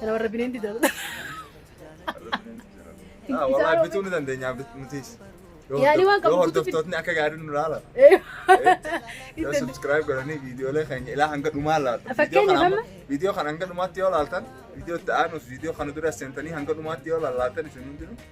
Kana warra bineen dida. Ah, Wallahi bituu ni dandeenya bit- nutis. Yoo Yaani waan qabu yoo guutuu bit- hordoftootni akka gaariin nu ilaalan. Yoo subscribe godhanii viidiyoolee keenya ilaa hanga dhumaa laatan. Fakkeenya Viidiyoo kana amma- amma- Viidiyoo kana hanga dhumaatti yoo laaltan, viidiyoo itti aanus, viidiyoo kana dura seentanii hanga dhumaatti yoo laallatan isin hundinuu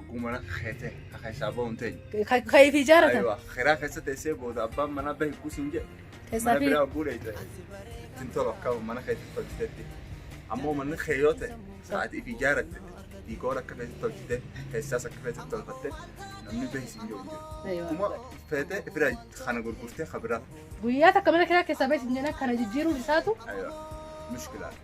Oguu mana keete ka keessaa ba'uun ta'e. Ka ka ifi ijaaratan. Aywa kiraa keessa teessee booda abbaan manaa bahe kuusin jedhe. Mana Keessaa fi biraa oguu dheeyte. Ittiin tolu akka mana keetti tolchitetti. Ammoo manni kee yoo ta'e sa'aatii fi ijaaratte diikoora akka feetti tolchite keessaas akka feetti tolfatte namni bahe siin jedhu jiru. Aywa. Kuma feete fira kana gurgurtee ka biraa. guyyaa takka mana kiraa keessaa bahe sin jedhan kana jijjiiruun isaatu Aywa mushkilaadha.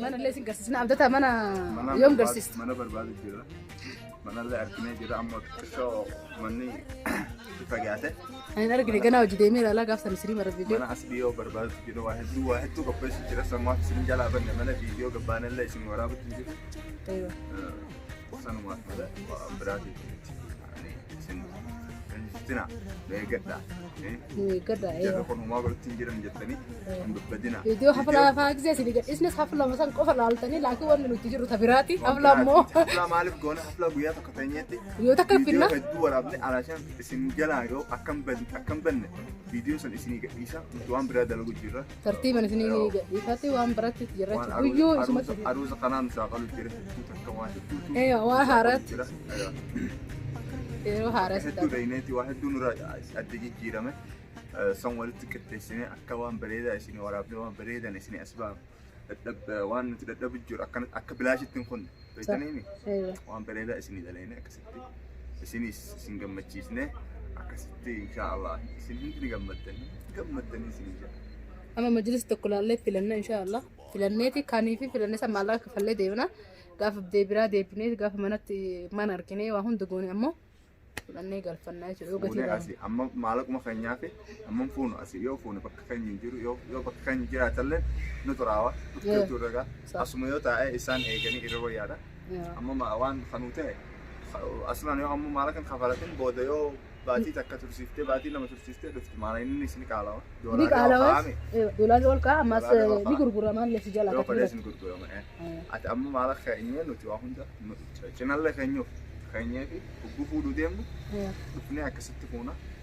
Mana illee isin garsiisna. Abdataa mana yoom garsiista? Mana barbaadu jira. Manallee arginee jira amma xiqqoo manni itti fagaate. Ani hin argine ganaa hojii deemeera alaa gaafsan isirii mara viidiyoo. Mana as dhiyoo barbaadu jira waa hedduu waa hedduu qopheessu jira sammaaf isin jalaa banne mana viidiyoo gabbaanellee isin waraabutti jiru. Sanumaaf malee waa biraatiif. isin dandeessina eeggadha. Eeggadha. Jarri kun homaa godhatti hin jiran jettanii hin dubbadina. Viidiyoo hafla hafaa gisee isin gadhiisnes hafla masan qofa laaltanii laakiin wanni nuti jiru tabiraati hafla ammoo Hafla maaliif goona hafla guyyaa tokko teenyeetti yoo takka viidiyoo finna hedduu waraabne alaashaan isin jalaa yoo akkam banne akkam banne viidiyoo san isinii gadhiisa nuti waan biraa dalagu jirra. Tartiiban isinii ni gadhiifatti waan biratti jirrachu guyyuu isumatti. Aruusa kanaan shaaqalu jira hedduu takka waan hedduu. Eewa waa haaraatti yeroo haaraa si Hedduu dhayneeti waa hedduu nurra adda jijjiirame. San walitti qixxeessinee akka waan bareedaa isin waraabnee waan bareedan isin as baafne. Dadhab- Waan nuti dadhabu jiru akkana- akka bilaashitti hin kunne. Beektaniimi? Eewa. Waan bareedaa isin dhalayne akkasuma. isinis isin gammachiisne akkasitti inshaa Allah isin hundi ni gammaddanii gammaddanii isin jira. Amma majlis tokko laallee filanna inshaa Allah filanneeti kanii fi filannee san maallaqa kafallee deemna gaafa deebiraa deebinee gaafa manatti mana arginee waa hunda goone ammoo fudhannee galfannaa jechuudha yoo gatii Fuunee laalu. asi amma maalaquma keenyaa fi Amma hin fuunu asii yoo fuune bakka keenya hin jiru yoo yoo bakka keenya jiraatallee nu xuraawa dhuftee Yeah. turre gaa Sa- asuma yoo taa'e isaan eeganii irra wayyaadha. Yeah. Amma ma- waan kanuu ta'e ka- asumaan yoo amma maala kan kafalatin booda yoo baatii takka tursiiftee baatii lama tursiiftee dhufti maala inni isin qaalawa Ni doolaarri yoo qaalawas kaa'ame doolaarri ol ka'a ammas Doolaarri ol eh, ka'a. ni gurgurama illee si jala yoo akka fedhees turan. ni gurgurama. eh. Eh, Ati amma maala keenyee nuti waa hunda nu- cinallee keenyuuf keenyee fi ugguu fuudhuu deemnu eh. dhufnee akkasitti fuuna.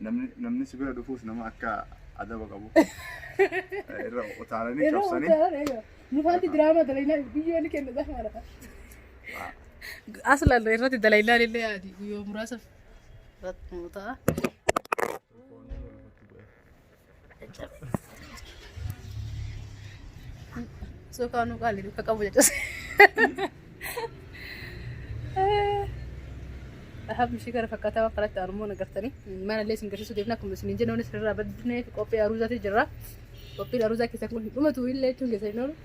Namni si bira dhufuus nama akka adaba qabu irra utaalanii cabsanii. Nufaatti diraamaa dalaynaa biyyoonni kenna zafaadha. Aslan irratti dalaynaan illee yaadi guyyoo muraasa irratti nu ta'a. Suukaa nu qaali duka qabu jechuus. Dhahaaf mishii gara fakkaataa waan karaatti armoo nagartanii mana illee isin garsiisuu deemna akkuma isin jennoon sirraa badneef qophii aruuzaati jirra. Qophiin aruuzaa keessaa kun hin dhumatu illee jechuun keessa hin oolu.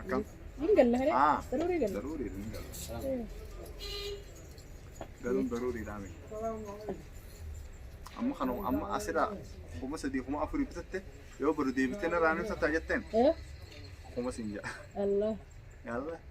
Akkam? Hin galla hiree. Ah. Daruurii galla. Daruurii hin galu. Galuun daruuriidhaa miti. Amma kana amma asirraa kuma sadii kuma afurii bitatte yoo badu deebitee narraa ni bitatta jetteen Eh, kuma siin jedha. Allah. Yaallah.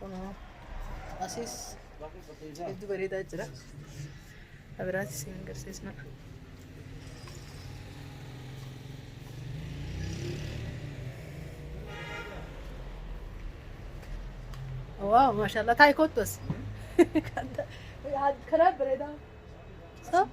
Kunoo asiis hedduu bareedaa jira. Abiraatis isin agarsiisna. Waaw maashaallah taa'e kottu as. Karaa bareedaa. So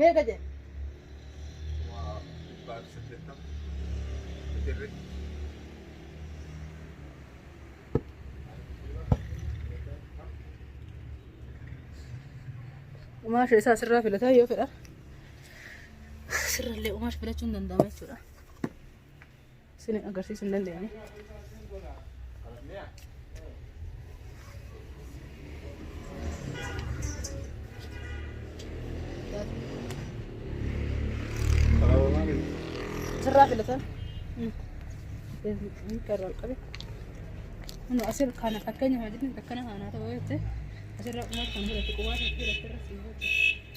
Meeqa jedhe? Waa dhibbaa fi saddeettama. Bitirri. Umaasha isaa asirraa filataa yoo fedha. Asirrallee umaasha filachuun danda'ama jechuudha. Isin agarsiisuu hin dandeenye. Sirraa filatan. Karraa qabe. Inni asir kana fakkeenya hojjetan akkana haanaa ta'uu jettee asirraa qumaas kan fudhatu qumaas kan fudhatu irra siin hojjetu.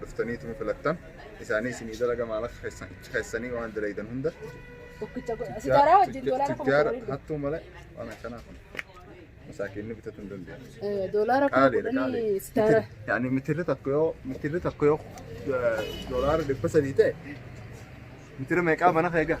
Durtaniituma filattan. Isaanii isinii dalaga maalaqa keessan ichi keessanii waan dalaydan hunda. Tokkicha godha. Sijaaraa wajjin doolaara kuma Tujjaara kudhanii hattuu malee waan akkanaa kun. Masaakiinni bitatu hin danda'u. Eh, doolaara kuma Qaaliidha kudhanii qaaliidha. sitaara. Yaani mitirri tokko yoo mitirri tokko yoo eh, doolaara dhibba sadii ta'e mitira meeqaa mana keegaa?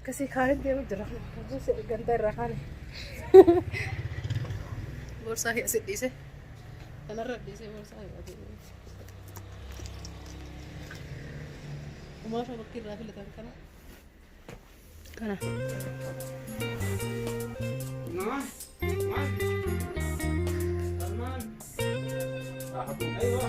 Akkasii kaanitti yeroo jira. Ganda irraa kaane. Boorsaa kee asitti dhiise. Kanarra dhiisee boorsaa kee asitti dhiise. Umaasha bakki irraa filatan kana. Kana. Salmaan. Salmaan. Aywa.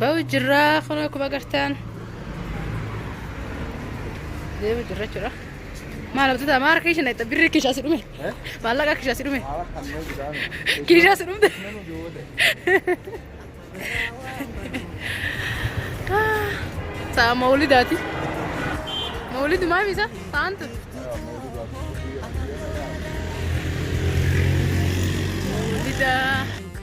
Ba'u jirraa kun akkuma agartan. Deemu jirra jechuudha. Maal abdata maal harka isheen dhaqxa birri kishaa si dhume. Maallaqa kishaa si dhume. Kishaa si dhumte. Sa'a mawlidaati. Mawlid maami isa sa'aan tun. Mawlida.